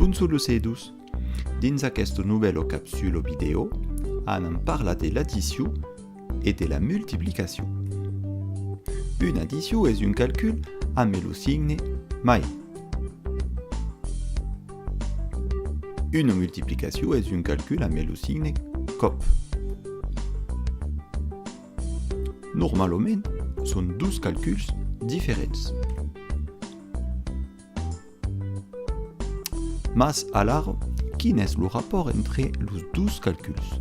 Bonjour los edus! Dins aqueste novèl o capsule o vidèo, anam parlar de l'addition e de la multiplicacion. Una addition es un calcul amb lo signe mai. Una multiplicacion es un calcul amb lo signe còp. Normalament, son dos calculs diferents. Mas alara, quin es lo rapòrt entre los dos calculs?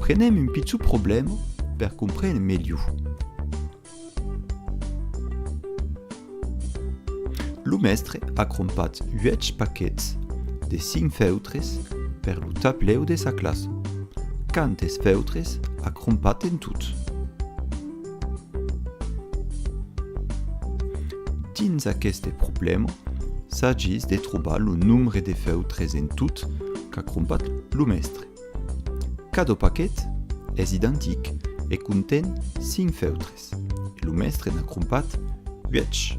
Prenem un pichon problèma per comprene melhor. Lo mèstre a crompat 8 paquets de 5 feutres per lo tablèu de sa classa. Quantes feutres a crompat en tot? Dins aqueste problèma, s'agís de trobar lo nombre de feutres en tot qu'a crompat lo mèstre. Cada paquet es identic e conten 5 feutres, e lo mèstre n'a crompat 8.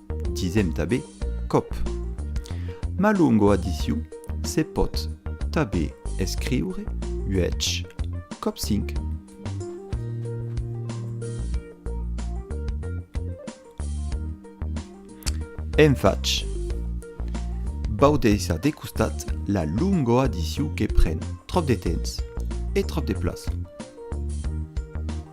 Disèm tabé còp. Ma longo adiciu se pòt tabé escriure uèch còp cinc. En fach, vau deishar de costat la longo adiciu que pren tròp de temps e tròp de plaça.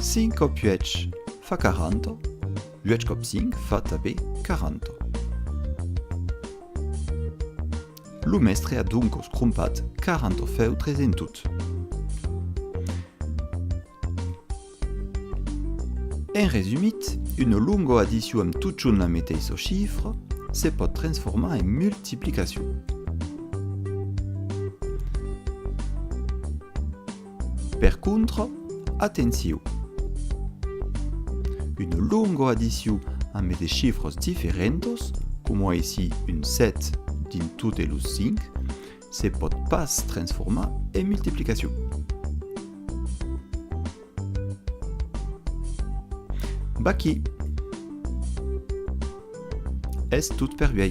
Cinc còp uèch fa quaranta, uèch còp cinc fa tabé quaranta. Lo mèstre a doncos crompat quaranta feutres en tot. En resumit, una longa adicion amb totjorn la meteissa chifra se pòt transformar en multiplicacion. Per contra, atenciu! Una longa adiciu ambe de chifras diferentas, coma aicí un 7 dins totes los 5, se pòt pas transformar en multiplicacion. Vaquí! Es tot per uèi.